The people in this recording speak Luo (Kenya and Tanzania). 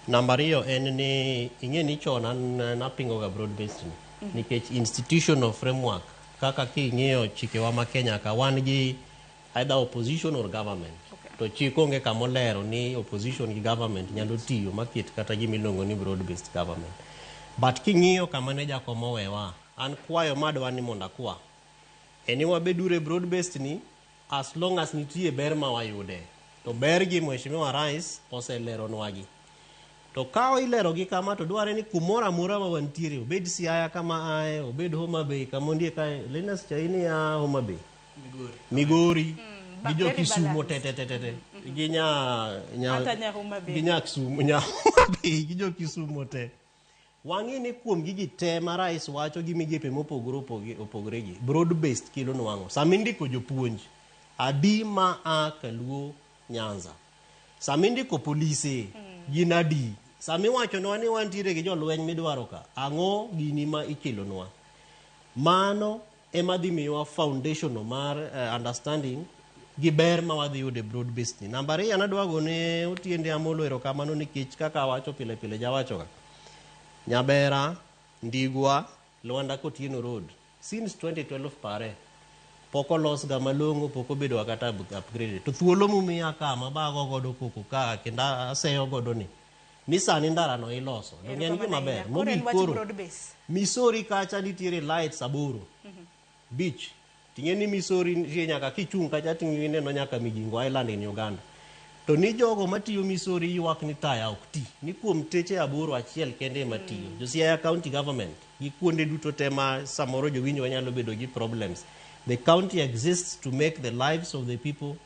Namba ariyo en ni ing'e ni chon an napingoga broad based ni nikech institutional framework kaka king'iyo chikewa ma Kenya ka wan gi either opposition or government to chik onge kama olero ni opposition gi government nyalo tiyo maket kata gima iluongo ni broad based government but king'iyo kama ne jakom owewa an kwayo madwa ni mondo akwa en ni wabeduru e broad based ni As long as nitie ber ma wayude. To ber gi Mheshimiwa Rais oseleronwagi. To ka ilerogi kama to dwarre ni kumoro amora ma wantiere, obed Siaya kama aye, obed Homa Bay kama ondiek aye, Linus Chaini a Homa Bay, Migori, gi jo Kisumo tetetetete, gi nya, nya, Hata nya Homa Bay. gi nya Kisumo, nya Homa Bay, gi jo Kisumo te. Wang'e ni kuom gigi te ma rais wacho gi migepe mopogore opogi- opogore gi broad based kilo nwang'o sama indiko jopuonj adi ma a kaluo nyanza sama indiko polise gin adi sama iwachonwa ni wantiere gi jolweny midwaro ka ang'o gini ma ikelonwa mano ema dhi miyowa foundation no mar uh, understanding gi ber ma wadhi yudo e broad based ni namba ariyo nadwa gone otiende amolo erokamano nikech kaka awacho pile pile jawachoga nyabera ndigwa lwanda kotieno road since 2012 pare pok olosga malong'o pok obedoga kata upgrade to thuolo mumiya ka mabago godo koko ka kendo aseyo godo ni ni sani ndarano iloso donge en gima ber mogik koro misori kacha nitiere lights aboro mhm. beach ting'e ni misori nitie nyaka kichung' kacha tingineno nyaka mijingo island in uganda to ni jogo matiyo misori ywak ni taya ok ti ni kuom teche aboro achiel kende ema tiyo mm. josiaya county government gi kuonde duto te ma samoro jowinjo wanyalo bedo gi problems the county exists to make the lives of the people